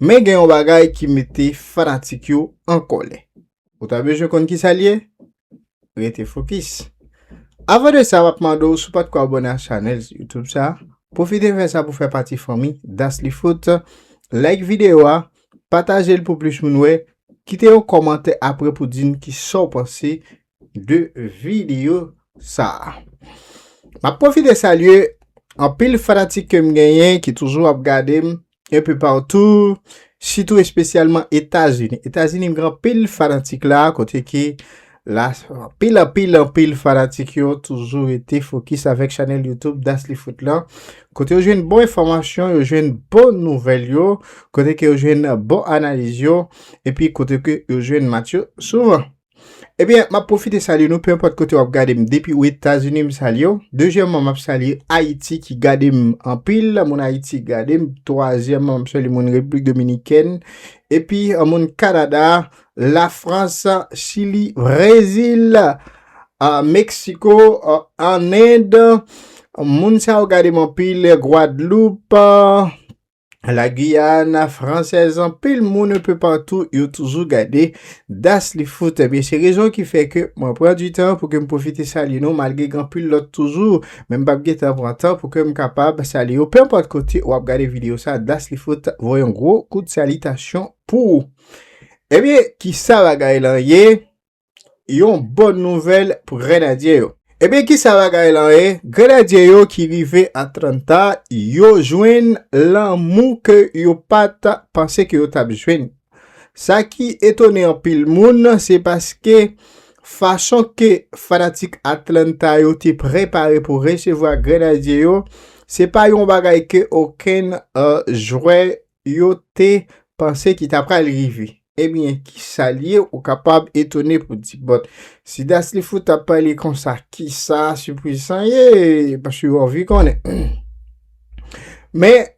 Men gen yon bagay ki mete fanatik yo an kòlè. Ou ta bezwen konn ki sa l ye? Rete fokis. Avan de sa, m ap mande w si w pa t ko abòne ak chanèl YouTube sa, pwofite fè sa pou w fè pati fanmi Daclyfoot. Like videyo a, pataje l pou plis moun wè, kite yon kòmantè apre pou di n ki sa w panse de videyo sa. M ap pwofite salye anpil fanatik ke m genyen ki toujou ap gade m, un peu partout, sitou espesyalman Etazini. Etazini gen anpil fanatik la, kote ke la anpil anpil anpil fanatik yo toujou rete fokis avèk chanèl YouTube Daslyfoot la. Kote yo jwenn bon enfòmasyon, yo jwenn bon nouvèl yo, kote ke yo jwenn bon analiz yo, epi kote ke yo jwenn match yo souvan. Ebyen, map pwofite salye nou, penpòt kote wap gade m, depi ou Etazini m salye w, dezyèmman map salye Ayiti ki gade m anpil, moun Ayiti ki gade m, twazyèmman map salye moun Repiblik Dominikèn, epi moun Kanada, Lafrans, Chili, Brezil, Meksiko, an End, moun sa yo gade m anpil, Gwadloup, La Guyane française anpil moun un peu partout yo toujou gade Das li fout ebyen se rezon ki fè ke mwen pran du tan pou ke m profite salye nou malgre gen anpil lòt toujou men m pap gen tan pran tan pou ke m kapab salye yo peu importe kote wap gade video sa Das li fout voye yon gwo kout salitasyon pou ou ebyen kisa bagay lan ye Yon bon nouvèl pou Grenadye yo. Ebyen kisa bagay lan ye, Grenadye yo ki rive Atlanta yo jwenn lanmou ke yo pat panse ke yo tap jwenn. Sa ki etone anpil moun se paske fason ke fanatik Atlanta yo te prepare pou resevwa Grenadye yo, se pa yon bagay ke okenn jwè yo te panse ki ta pral rive. Ebyen, ki sa l ye? Ou kapab etone pou di, Bòt, si Das li fout ap pale konsa, ki sa sipriz sa ye? Paske ou anvi konnen. Men,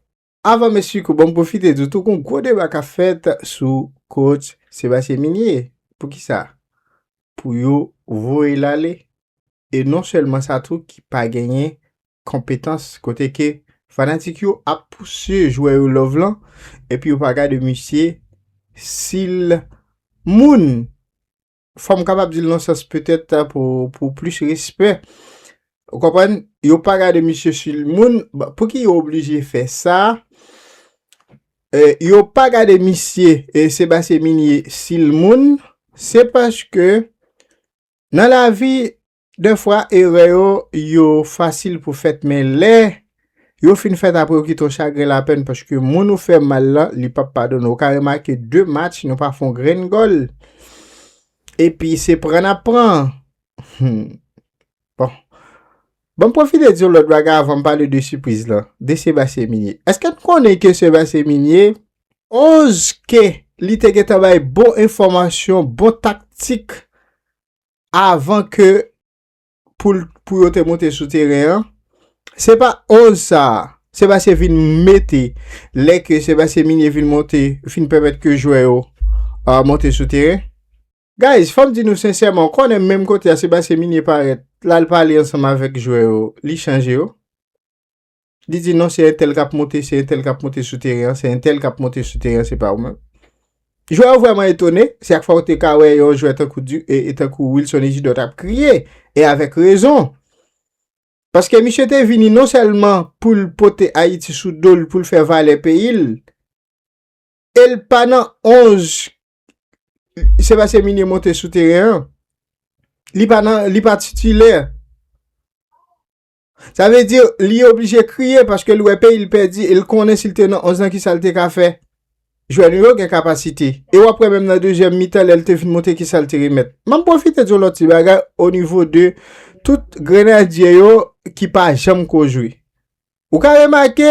avan m esplike ou, ban m pwofite di w tou gon gwo deba k ap fèt sou Coach Sébastien Migné. Pou ki sa? Pou yo voye l ale. E non sèlman sa tou ki pa genyen konpetans kote ke fanatik yo ap pouse jwè yo love lan epi yo pa gade misye sil moun fòm kapab dil nan sans petèt pou plis respè ou konprann yo pa gade misye sil moun pouki yo oblije fè sa yo pa gade misye Sébastien Migné sil moun se paske nan lavi De fwa erè yo yo fasil pou fèt men lè yo fin fèt apre yo kite w chagren lapèn paske moun ou fè mal lan li pap padone w. Ou ka remake 2 match nou pa fè yon grenn gòl epi se pran n ap pran. Humm bon Ban m pwofite di w lòt bagay avan m pale de sipriz lan, de Sébastien Migné. Eske n konnen ke Sébastien Migné, 11 ke li te gentan bay bon enfòmasyon, bon taktik avan ke pou yo te monte sou teren an, se pa 11 sa a, Sebastien vin mete, lè ke Sebastien Migné vin monte, vin pèmèt ke jwè yo monte sou teren. Guys, fòm di nou sensèman, ou konnen menm kote a Sebastien Migné parèt, lal pale ansanm avèk jwè yo, li chanje yo. Li di non se entèl kap monte, se entèl kap monte sou teren an, se entèl kap monte sou teren an, se pa ou menm. Jwè yo vrèman etone, se ak fwa ou te ka wè yon jwè tankou di, e tankou Wilson Ejidor tap kriye, e avèk rezon. Paske misye te vini non sèlman pou l pote Ayiti sou do l, pou l fè valè peyi l, e l pa nan 11, se pa se minye monte sou teren an, li pa nan, li pa titilè. Sa vle di li oblije kriye paske li wè peyi l pèdi e l konnen si l te nan 11 lan kisa l te ka fè. Jwè nou yo gen kapasite. E w ap wè menm nan dezyèm mitan lè l te fin monte kisa l te remèt. M ap pwofite di yon lòt ti bagay o nivo de tout grenadye yo ki pa janm ko jwe. Ou ka remake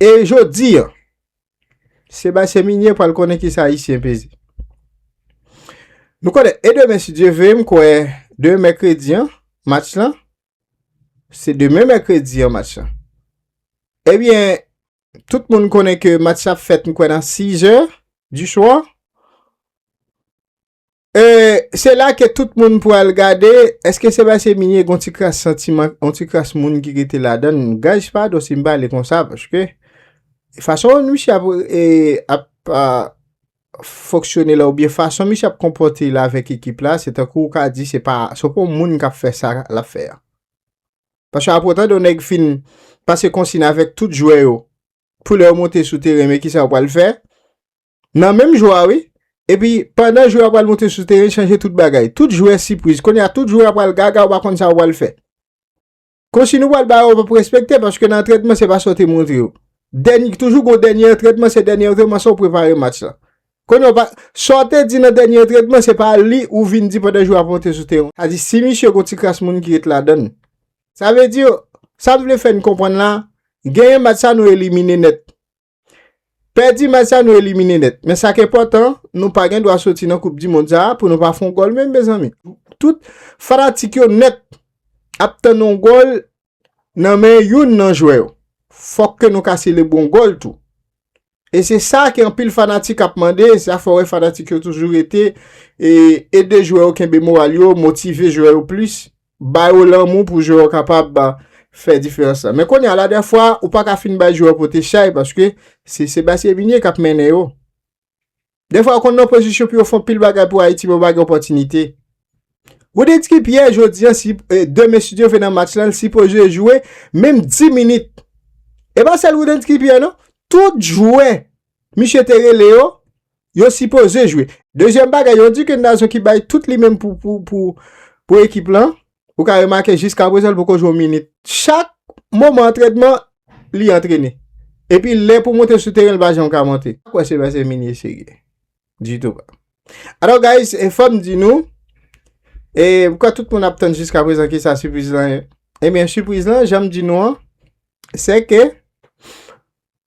E jodi an, Sebastien Migné pral konnen ki sa Ayisyen peze. Nou konnen, e demen si Dye ve, m kwè demen mèkredi an, match lan, se demen mèkredi an match lan. Ebyen, eh tout moun konnen ke match la ap fèt m kwè nan 6 è di swa. Euh se la ke tout moun pwal gade eske se pase mine gon ti kras santiman on ti kras moun ki rete ladann guys padon sim pale konsa paske fason misye ap ap fonksyone la oubyen fason misye ap konpòte la avèk ekip la se tankou ou ka di se pa se pa on moun kap fè sa lap fè a paske apre ou tande on nèg fin pase konsin avèk tout jwè yo pou lè yo monte sou teren men kisa yo pwal fè Nan menm jou a wi. Epi pandan jou a pral moute sou teren chanje tout bagay. Tout jwè sipriz. Kounye a tout jwè a pral gaga ou pa konn sa ou pral fè. Konsiy nou pral ba yo pap respekte paske nan antrenman se pa sa ou te montre yo. Dènye toujou gon dènye antrenman se dènye antrenman sa ou prepare match la. Kounye a ou pa sa ou te di nan dènye antrenman se pa li ou vin di pandan jou a ap monte sou teren. Sa di si misye gon ti kras moun ki ret ladann. Sa vle di yo, sa m vle fè n konprann la, genyen match sa nou elimine nèt. Pèdi match sa nou elimine nèt. Men sa k enpòtan, nou pa gen dwa soti nan koup dimond sa pou nou pa fè yon gòl menm mezanmi. Tout fanatik yo nèt ap tann yon gòl nan men youn nan jwè yo. Fòk ke nou ka selebre yon gòl tou. E se sa ke anpil fanatik ap mande, se sa fè wè fanatik yo toujou rete, e ede jwè yo kenbe moral yo, motive jwè yo plis. Ba yo lanmou pou jwè yo kapab fè diferans la. Men konya la dèfwa ou pa ka fin bay jwè yo pote chay paske se Sebastien Vigne k ap mennen yo. Dèfwa yo konn nan pozisyon pou yo fon pil bagay pou Ayiti men yo pa gen opòtinite. Roudensky Pierre jodi an si demen si Dye vle nan match lan l sipoze jwe menm 10 minit. E pa sèl Roudensky Pierre non, tout jwè. misye te rele yo, yo sipoze jwe. Dezyèm bagay, yo di ke Nazo ki bay tout li menm pou ekip lan, ou ka remake jiska prezan li poko jwe yon minit. Chak moman antrenman, li antrene. Epi lè pou monte sou teren, li pa janm ka monte. Mwen pa kwè se paske Minie serye. Ditou. Alò guys, e fòm di nou, e mwen kwè tout moun ap tann jiska prezan ki sa sipriz lan ye. Ebyen sipriz lan, janm di nou an, se ke,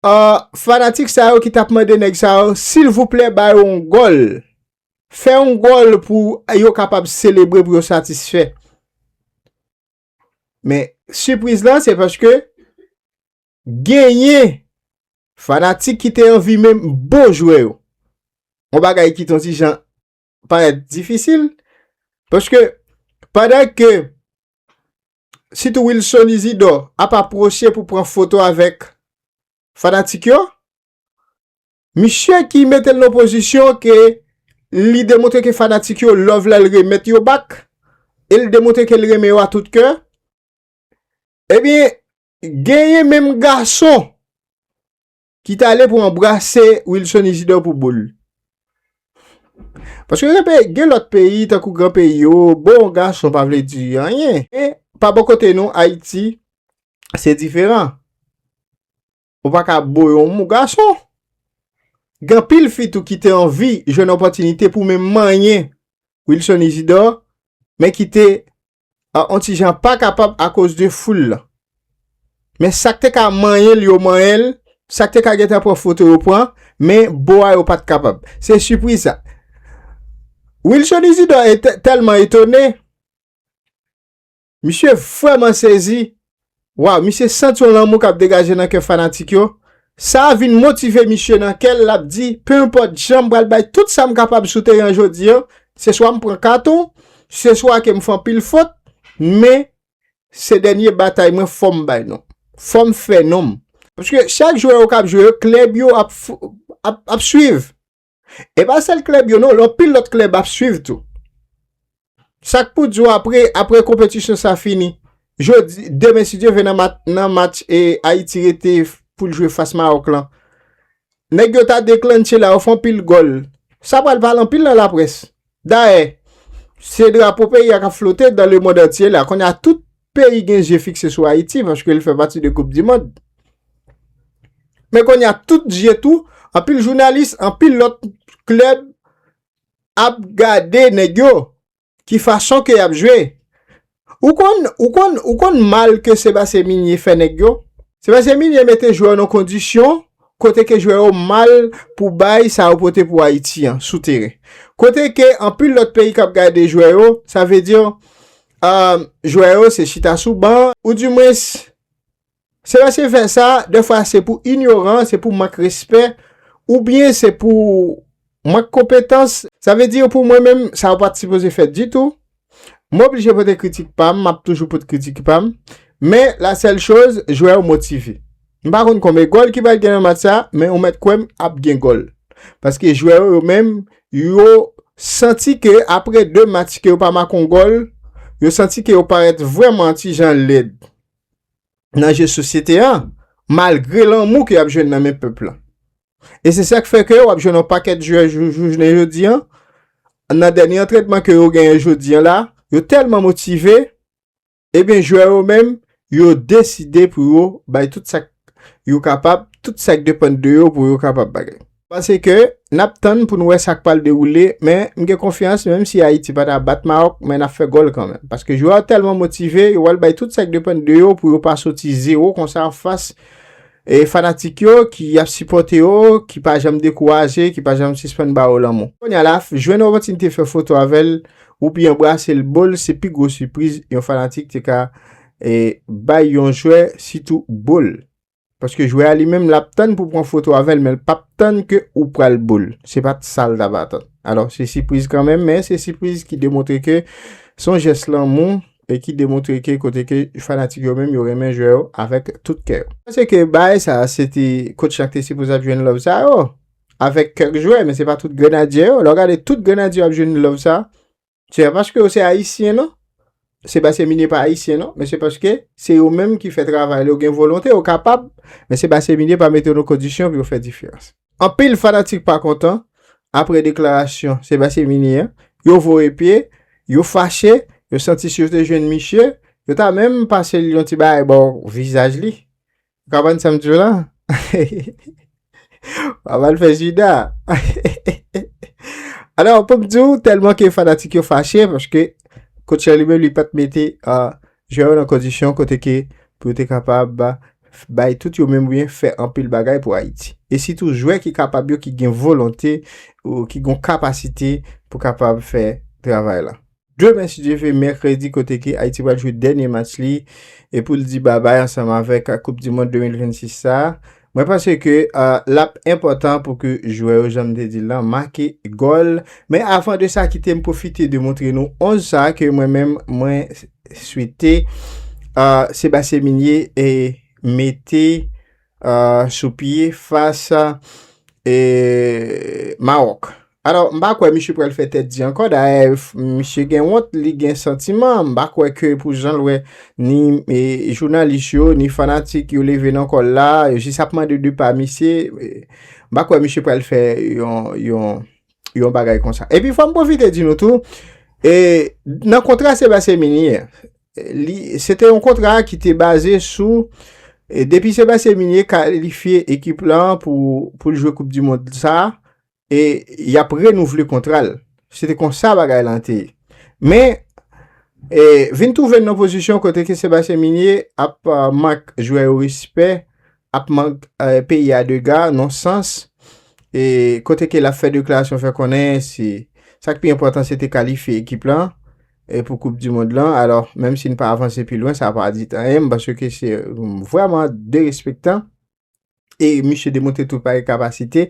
Ahh fanatik sa yo ki tap mande nèg sa yo silvouplè ba yo yon gòl fè yon gòl pou yo kapab selebre pou yo satisfè men sipriz la se paske genyen fanatik ki te anvi menm bon jwè yo yon bagay ki ton ti jan parèt difisil, paske pandan ke sitou Wilson Izidò ap apwoche pou pran foto avèk fanatik yo, misye ki mete l nan pozisyon ke li demontre ke fanatik yo love la l remèt yo bak, e l demontre ke l renmen yo a tout kè, ebyen genyen menm gason ki t ale pou anbrase Wilson Isidor pou boul. Paske gen peyi, gen lòt peyi tankou gran peyi yo, bon gason pa vle di anyen. Men, pa bò kote nou, Ayiti, se diferan. Ou pa ka bo yon mou gason. Gen anpil fi tou ki te anvi jwenn opòtinite pou menm manyen Wilson Isidor, men ki te an on ti jan pa kapab akoz de foul lan. Men sa k te ka manyen l yo manyen l, sa k te ka gentan pran foto yo pran, men bo a yo pa t kapab. Se sipriz sa. Wilson Isidore te tèlman etone, misye vrèman sezi, Waw misye sant yon lanmou kap degaje nan kè fanatik yo, sa a vin motive misye nan kè l lap di pe enpòt jan m pral bay tout sa m kapab sou teren an jodi an, se swa m pran katon, se swa ke m fè anpil fot, men se dènye batay mwen fò m bay non. Fò m fè non m. Paske chak jwè yo kap jwe yo klèb yo ap swiv. E pa sèl klèb yo non, lò pil lòt klèb ap swiv tou. Sak pou di w apre, apre konpetisyon sa fini, jodi, demen si Dye vle nan match e Ayiti rete pou l jwe fas Maròk lan, nèg yo ta deklannche la, yo fè anpil gòl, sa pral pale anpil nan laprès. Dayè, se drapo peyi a k ap flote dan lemond antye la, kounye a tout peyi gen zye fikse sou Ayiti paske li fè pati de koup di mond. Men konya tout zye tou, anpil jounalis, anpil lòt klèb ap gade nèg yo ki fason ke y ap jwe. Ou konn, ou konn, ou konn mal ke Sebastien Migné fè nèg yo? Sebastien Migné mete jwè yo nan kondisyon kote ke jwè yo mal pou bay sa yo pote pou Ayiti an sou teren. Kote ke anpil lòt peyi k ap gade jwè yo, sa vle di, Ahh jwè yo se chita sou ban ou di mwens se lè se fè sa dè fwa se pou inyoran se pou mank respè ou byen se pou mank konpetans sa vle di yo pou mwen menm sa yo pat sipoze fèt ditou m oblije pote kritik pam map toujou pot kritik pam men la sèl choz jwè yo motive. M pa konn konbe gòl ki pral gen nan match sa, men ou mèt kwè m ap gen gòl. Paske jwè yo yo menm, yo santi ke apre 2 match ke yo pa make yon gòl, yo santi ke yo parèt vrèman yon ti jan lèd nan je sosyete an, malgre lanmou ke y ap jwenn nan men pèp lan. E se sa k fè ke w ap jwenn yon pakèt jwè jounen jodi an, nan dènye antrenman ke yo genyen jodi an la, yo tèlman motive, Ebyen jwè yo menm, yo deside pou yo bay tout sa k yo kapab, tout sa k depann de yo pou yo kapab bagay. Pase ke, n ap tann pou n wè sa k pral dewoule, men m gen konfyans menm si Ayiti pa ta bat Mawòk, men n ap fè gòl kanmenm. Paske jwè yo tèlman motive, yo pral bay tout sa k depann de yo pou yo pa soti zewo konsa anfas e fanatik yo ki ap sipòte yo, ki pa janm dekouraje, ki pa janm sispann ba yo lanmou. Kounye a la, jwenn opòtinite fè foto avè l. Ou pi anbrase l ball se pi gwo sipriz yon fanatik te ka bay yon jwè sitou ball. Paske jwè a li menm l ap tann pou pran foto avè l men l p ap tann ke ou pral ball. Se pa t sa l t ap atann. Alò se sipriz kanmenm men se sipriz ki demontre ke se yon jès lanmou e ki demontre ke kote ke fanatik yo menm yo renmen jwè yo avèk tout kè yo. Panse ke baay sa se te coach la ki te sipoze ap jwenn love sa yo. Avèk kèk jwè, men se pa tout grenadyè yo. Lè w gade tout grenadyè yo ap jwenn love sa, se pa paske yo se ayisyen non. Se basye minye pa ayisyen non, men se paske se yo menm ki fè travay la, yo gen volonte, yo kapab, men se basye minye pa mete yo nan kondisyon pou yo fè diferans. Anpil fanatik pa kontan apre deklarasyon se basye minye an, yo voye pye, yo fache, yo santi si yo te jwenn misye, yo ta menm pase l yon ti bagay bò vizaj li. Ou ka bann sam diw la? Wap al fè juda. Alò poum diw tèlman ke fanatik yo fache paske coach la li menm li pat mete jwè yo nan kondisyon kote ke pou yo te kapab bay tout yo menm oubyen fè anpil bagay pou Ayiti. E sitou jwè ki kapab yo ki gen volonte ou ki gon kapasite pou kapab fè travay lan. Demen si Dye ve mèkredi kote ke Ayiti pral jwe dènye match li e pou l di babay ansanm avèk koup di mond 2026 sa, mwen panse ke l ap enpòtan pou ke jwè yo jan m te di l lan make gòl. Men avan de sa kite m pwofite de montre nou 11 sa ke mwen menm mwen swete Sebastien Migné mete. sou pye fas Mawòk. Alò, m pa kwè misye pral fè tèt di ankò. Dayè, misye gen wont, li gen santiman. M pa kwè ke pou jan l wè ni jounalis yo, ni fanatik yo leve nan kò l la, yo jis ap mande de pa misye. M pa kwè misye pral fè yon bagay konsa. Epi fò m pwofite di nou tou, nan kontra Sébastien Minier, li se te yon kontra ki te baze sou e depi Sébastien Migné kalifye ekip lan pou pou l jwe koup di mond sa e y ap renouvle kontra l se te konsa bagay lan te ye men e vin twouve n nan pozisyon kote ke Sébastien Migné ap mank jwè yo respè ap mank peyi a dega nan sans e kote ke l ap fè deklarasyon fè konnen se sa k pi enpòtan se te kalifye ekip lan e pou koup di mond lan alò menm si n pa avanse pi lwen sa pa di anyen m panse ke se vreman derespektan e misye demontre tout pare kapasite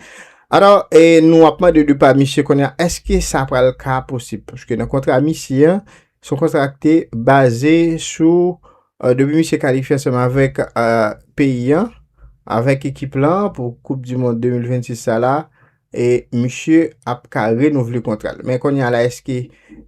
alò e nou ap mande de pa misye konya eske sa pral ka posib paske nan kontra misye an son kontra ki te baze sou euh, depi misye kalifye ansanm avèk euh, peyi an avèk ekip lan pou koup di mond 2026 sa la e misye ap ka renouvle kontra l men kounye a la eske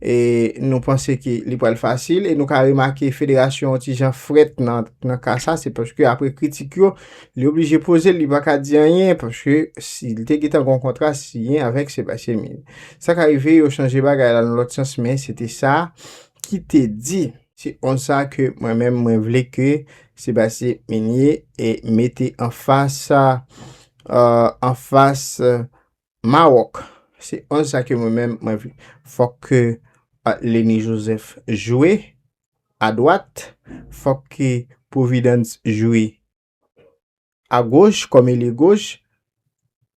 e nou panse ke li pral fasil e nou ka remake federasyon yon ti jan frèt nan nan ka sa se paske apre kritik yo li oblije poze l li pa ka di anyen paske si li te gentan gon kontra siyen avèk Sébastien Mille sa ka rive yo chanje bagay la nan lòt sans men se te sa ki te di. Se konsa ke mwen menm mwen vle ke Sebastien Migné e mete an fas an fas Maroc. Se konsa ke mwen menm mwen vle. Fòk ke Lenny Joseph jwe a dwat, fòk ke Providence jwe a goch kòm elye goch,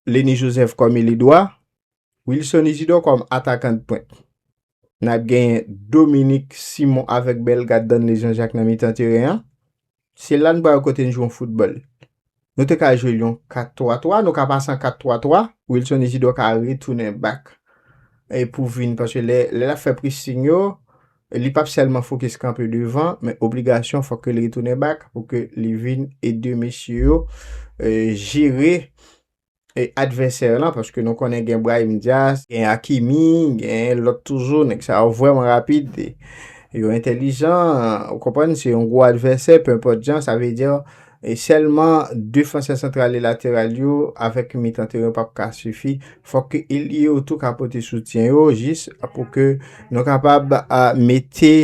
Leny Joseph kòm elye dwa, Wilson Isidor kòm atakan de pwent. N ap genyen Dominique Simon avèk Bellegarde Danley Jean Jacques nan mitan teren an. Se la n pral kote n jwe yon foutbòl. Nou te ka jwe l yon 4 3 3, nou ka pase an 4 3 3, Wilson Isidor ka retounen bak pou vin paske lè l ap fè pressing yo, Li pap sèlman fokis kanpe devan men obligasyon fòk ke li retounen bak pou ke li vin ede mesye yo jere advèsè lan paske nou konnen gen Brahim Diaz, gen Hakimi, gen lòt toujou, nèg sa yo vrèman rapid, yo entèlijan, ou konprann, se yon gwo advèsè, penpòt jan, sa vle di. E sèlman defansè santral e lateral yo avèk yon mitan teren yo pap ka sifi. Fòk ke elye yo tou ka pote soutyen yo jis pou ke nou kapab a mete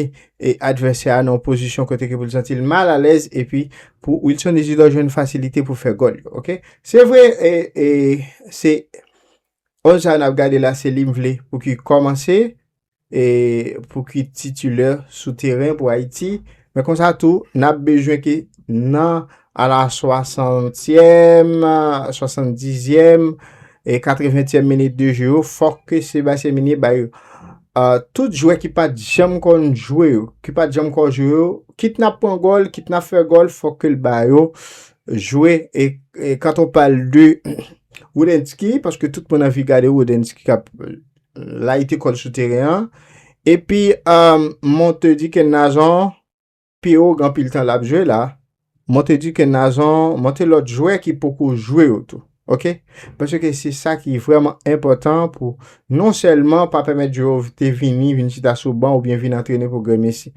e advèsè a nan yon pozisyon kote ke pou l santi l mal alèz epi pou Wilson Isidor jwenn fasilite pou fè gòl yo ok. Se vre e e se 11 sa yo n ap gade la se li m vle pou ki kòmanse pou ki titulè sou teren pou Ayiti, men konsa tou, n ap bezwen ke nan ala swasantyèm, swasandizyèm, e katreventyèm minit de jeu yo, fòk ke Sebastien Migné bay tout jwè ki pa t janm konn jwe yo, ki pa t janm konn jwe yo, kit n ap pran gòl, kit n ap fè gòl, fòk ke l ba yo jwe, e quand on parle de Roudensky, paske tout moun anvi gade Roudensky k ap. layite kòd sou teren an, epi mwen te di ke Nazon pi ou gan pil tan lap jwe la, mwen te di ke Nazon, mwen te lòt jwè ki poko jwe yo tou, ok, pwese ke se sa ki vreman enpotan pou non selman pa pèmèt jwè yo te vini, vin chita sou ban ou byen vin antrene pou Gremesi,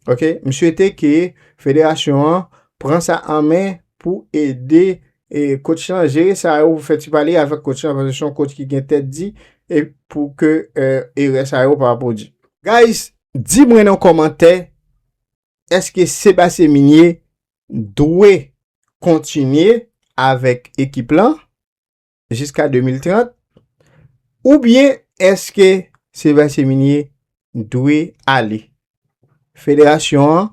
ok, m swete ke federasyon an pran sa an men pou ede e coach lan jere sa yo pou fè ti pale avèk coach lan paske son coach ki gen tèt di e pou ke erè sa yo pa pwodi. Guys, di mwen nan kòmantè eske Sébastien Migné dwe kontinye avèk ekip lan jiska 2030 oubyen eske Sébastien Migné dwe ale. Federasyon an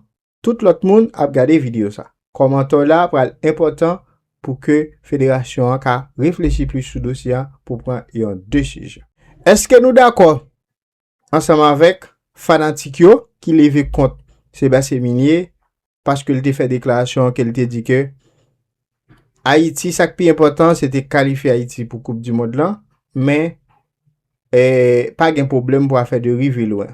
Tout lòt moun ap gade video sa. Kòmantè w la pral enpòtan pou ke federasyon an ka reflechi plis sou dosye an pou pran yon desizyon. Eske nou dakò ansanm avèk fanatik yo ki leve kont Sébastien Migné paske l te fè deklarasyon ke l te di ke Ayiti sa k pi enpòtan se te kalifye Ayiti pou koup dimond lan men pa gen pwoblèm pou afè de rive lwen.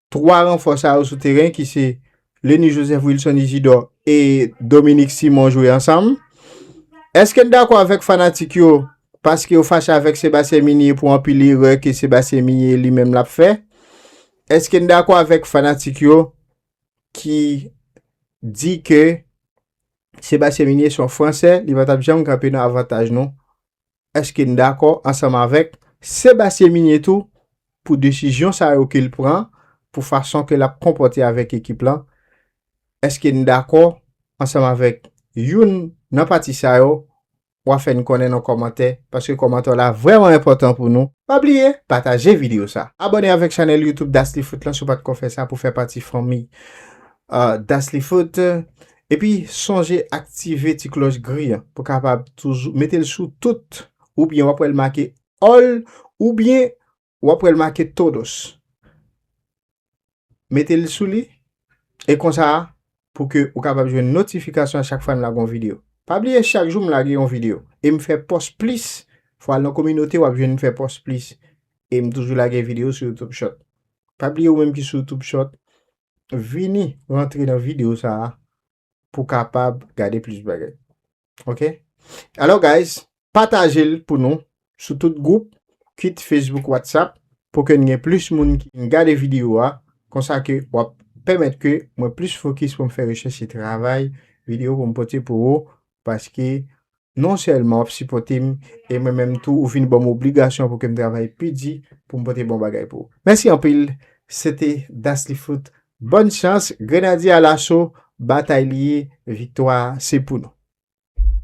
3 ranfò sa yo sou teren ki se Leny Joseph Wilson Isidor e Dominique Simon jwe ansanm. Eske n dakò avèk fanatik yo paske yo fache avèk Sebastien Migné pou anpil erè ke Sebastien Migné li menm lap fè? Eske n dakò avèk fanatik yo ki di ke Sebastien Migné son fransè li pa tap janm kanpe nan avantaj nou Eske n dakò ansanm avèk Sébastien Migné tou pou desizyon sa yo ke l pran, pou fason ke l ap konpòte avèk ekip lan? Eske n dakò ansanm avèk youn nan pati sa yo? Wa fè n konnen nan kòmantè, paske kòmantè w la vrèman enpòtan pou nou. Pa bliye pataje video sa. Abòne avèk chanèl YouTube Dacely Foot lan si w pa t ko fè sa pou fè pati fanmi Dacely Foot. Epi sonje aktive ti klòch gri an pou kapab toujou mete l sou tout oubyen wap wèl make all oubyen wap wèl make todos mete l sou li e konsa pou ke ou kapab jwenn notifikasyon a chak fwa n lage yon video pa bliye chak jou m lage yon video e m fè pòs plis fò al nan kominote wap jwenn m fè pòs plis e m toujou lage video sou youtube short pa bliye ou menm ki sou youtube short vini rantre nan video sa a pou kapab gade plis bagay. Ok? Alo guys, pataje l pou nou sou tout group, kit Facebook, WhatsApp, pou ke n gen plis moun ki vin gade video a, konsa ke wap pèmèt ke mwen plis fokis pou m fè rechèch e travay video pou m pote pou ou paske non sèlman wap sipòte m e mwen menm tou ou vin ban m obligasyon pou ke m travay pi di pou m pote bon bagay pou ou. Mèsi anpil! Se te Daslyfoot. Bòn chans, Grenadye Alaso, batay li ye, viktwa a se pou nou!